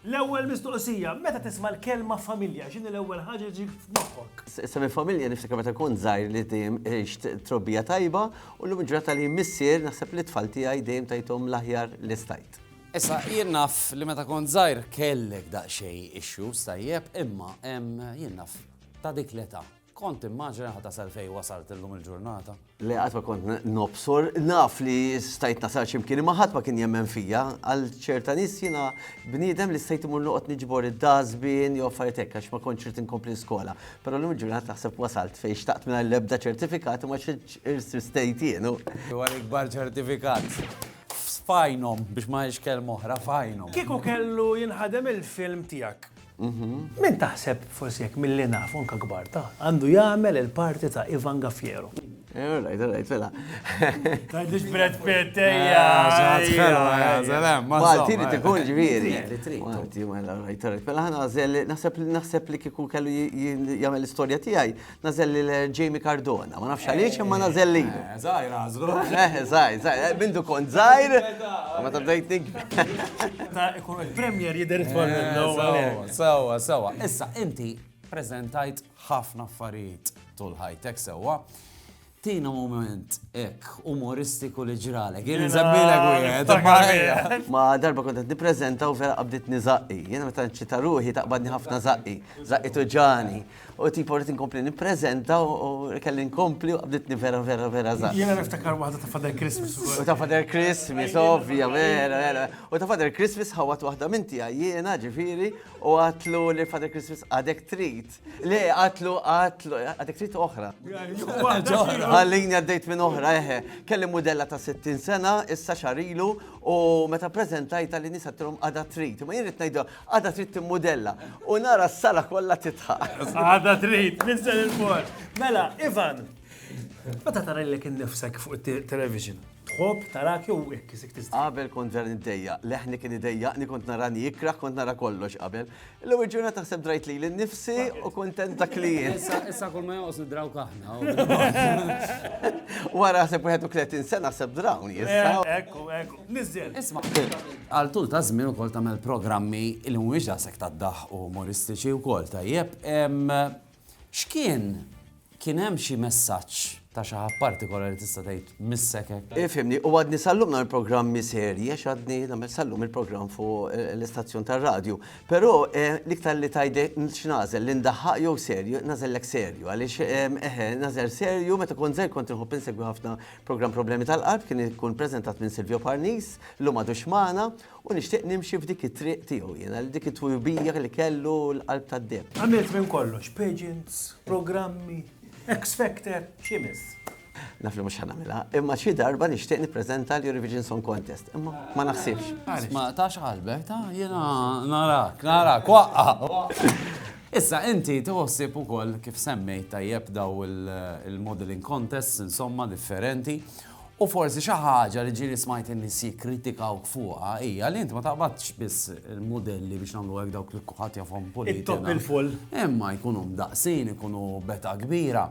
L-ewwel mistoqsija, meta tisma' l-kelma familja, x'inhi l-ewwel ħaġa li tiġik f'moħħok? Semmi familja niftakar meta kont żgħir li dejjem għext trobbija tajba u llum il-ġurnata li missier naħseb li t-tfal tiegħi dejjem tajthom l-aħjar li stajt. Issa, jien naf li meta kont żgħir kellek daqsxejn issues tajjeb imma jien naf ta' dik l-età Kont timmaġina ħa tasal fejn wasalt illum il-ġurnata? Le qatt ma kont nobsor, naf li stajt nasal x'imkien imma ħadd ma kien jemmen fija, għal ċerta nies jiena bniedem li stajt imur noqgħod niġbor id-dazbin jew affarijiet hekk għax ma kontx irid inkompli skola. Però llum il-ġurnata naħseb wasalt fejn xtaqt mingħajr l-ebda ċertifikat imma x'irsistejt jien. Huwa l-ikbar ċertifikat f'għajnhom biex ma ngħidx kelma oħra f'għajnhom. Kieku kellu jinħadem il-film tiegħek, Min taħseb, forsi hekk milli naf, u anke kbar, ta, għandu jagħmel il-parti ta' Ivan Gaffiero? All right, all right, fela. Tgħidlix Brad Pitt, ejja. Malti li tkun ġifieri. Malti, mela, all right, all right. Fela ħana naħseb li kieku kellu jagħmel l-istorja tiegħi, nażel lil Jamie Cardona. Ma nafx għaliex imma nażel lil. Eh, zaħir għazlu. Eh, zaħir, zaħir. Eh, Bindu kont zaħir. Ma ta' bdejt nik. Ta' ikun il-premier jider it-twal eh, Sawa, sawa. Issa, inti prezentajt ħafna affarijiet tul ħajtek sewa. Tina mument hekk umoristiku li ġralek. Jien inżammilek wieħed. Ma darba kont qed nippreżenta u vera qabditni żaqqi. Jiena meta nċita ruħi taqbadni ħafna żaqqi, żaqqi tuġani. U tipo rrid inkompli nippreżenta u kelli nkompli u qabditni vera vera vera żaqqi. Jiena niftakar waħda ta' Father Christmas. U ta' Father Christmas, ovvja, vera vera. U ta' Father Christmas ħawat waħda minn tiegħi jiena ġifieri u għatlu li Father Christmas għadek trid. Le, għatlu, għatlu, għadek trit oħra. Għallini għaddejt minn oħra, eħe. Kelli modella ta' 60 sena, issa xarilu, u meta prezentajt għalli nisa t-trom għada trit. Ma jirrit najdu, għada trit t-modella. U nara s-sala kolla titħaq. Għada trit, nissan il-mort. Mela, Ivan, meta tara li kien nifsek fuq il-television, tħob tarak jew hekk isik tista'. Qabel kont ġar id-dejja, leħni kien id-dejja, ni kont narani ikra, kont nara kollox qabel. L-ewwel ġurnata ħseb drajt lili nnifsi u kuntent dak li jien. Issa kull ma joqos nidraw kaħna. Wara ħseb 31 sena ħseb drawn issa. Eh, ekku, ekku. Nizzel. Isma. Għal tul ta' żmien ukoll tagħmel programmi li mhumiex daqshekk tad-daħ u umoristiċi wkoll tajjeb. X'kien? Kien hemm xi messaġġ ta' xi ħadd partikolari tista' tgħid missek hekk? Ifhimni, u għadni sal-lum nagħmel programmi serji għax għadni nagħmel sal-lum il-programm fuq l-istazzjon tar-radju. Però l-iktar li tgħid x'nagħżel li ndaħħaq jew serju, nagħżellek serju għaliex eħe nagħżel serju meta kont żgħir kont inħobb insegwi ħafna programm Problemi tal-Qalb kien ikun preżentat minn Silvio Parnis, illum m'għadux magħna, U nixtieq nimxi f'dik it-triq tiegħu jiena, li dik it-twibija li kellu l-qalb tad-deheb. Għamilt minn kollox, pageants, programmi, X Factor, xi jmiss? Naf li mhux ħa nagħmilha, imma xi darba nixtieq nippreżenta l-Eurovision Song Contest, imma ma naħsibx. Isma' ta' xi ħalbek, ta' jiena narak, narak, waqqa', waqqa'. Issa inti tħossib ukoll kif semmejt tajjeb dawn il-modelling contests insomma differenti U forsi xi ħaġa li ġieli smajt in-nies jikkritikawk fuqha hija li int ma taqbadx biss il-mudelli biex nagħmlu hekk dawk li kulħadd jafhom puliti. It-topp il-full. Imma jkunu mdaqqsin, ikunu betgħa kbira.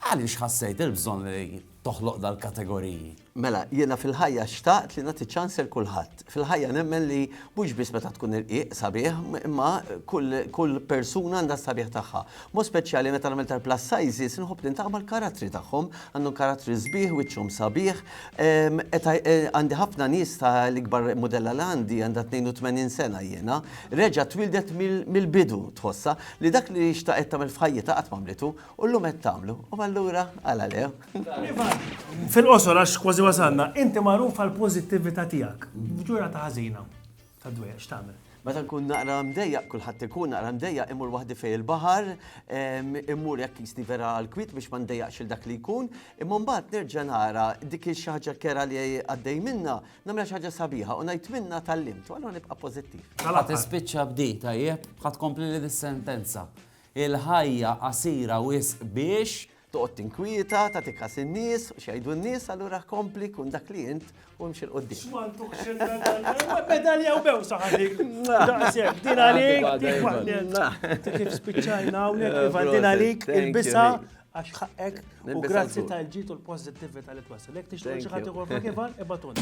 Għaliex ħassejt il-bżonn li toħloq dal-kategoriji? Mela, jiena fil-ħajja xtaqt li nagħti ċans lil kulħadd. Fil-ħajja nemmen li mhux biss meta tkun irqiq sabiħ, imma kull persuna għandha s-sabiħ tagħha. B'mod speċjali meta nagħmel tal-plus sizes inħobb niltaqa' mal-karattri tagħhom, għandhom karattri sbieħ, wiċċhom sabiħ. Għandi ħafna nies ta' l-ikbar mudella li għandi għandha 82 sena jiena, reġgħet twieldet mill-bidu, tħossha li dak li xtaqet tagħmel f'ħajjitha qatt m'għamlitu. U llum qed tagħmlu, u allura għala le? Iva, fil-qosor għax kważi wasalna, inti magħruf għall-pożittività tiegħek. F'ġurnata ħażina ta' dwejjaq x'tagħmel? Meta nkun naqra mdejjaq, kulħadd ikun naqra mdejjaq, imur waħdi fejn il-baħar, immur jekk jisni vera għall-kwiet biex ma ndejjaqx il dak li jkun, imma mbagħad nerġa' nara dik xi ħaġa kera li għaddej minnha, nagħmilha xi ħaġa sabiħa u ngħid minnha tallimt, u allura nibqa' pożittiv. Mela tispiċċa b'di, tajjeb, ħa tkompli li dis-sentenza. Il-ħajja qasira wisq biex. Toqgħod tinkwieta, tagħti kas in-nies u x'jgħidu n-nies, allura kompli kun dak li int u imxi 'l quddiem. X'm'għandux il-medalja. Medalja u bewsa ħa dik. Daqshekk. Din għalik, dik magnet. Ta' kif spiċċajna hawnhekk, Ivan, din għalik, ilbisha għax ħaqqek u grazzi tal-ġid u l-pożittività li twassal. Jekk tixtieq xi ħadd ieħor f'hekk, Ivan, ibgħatulna.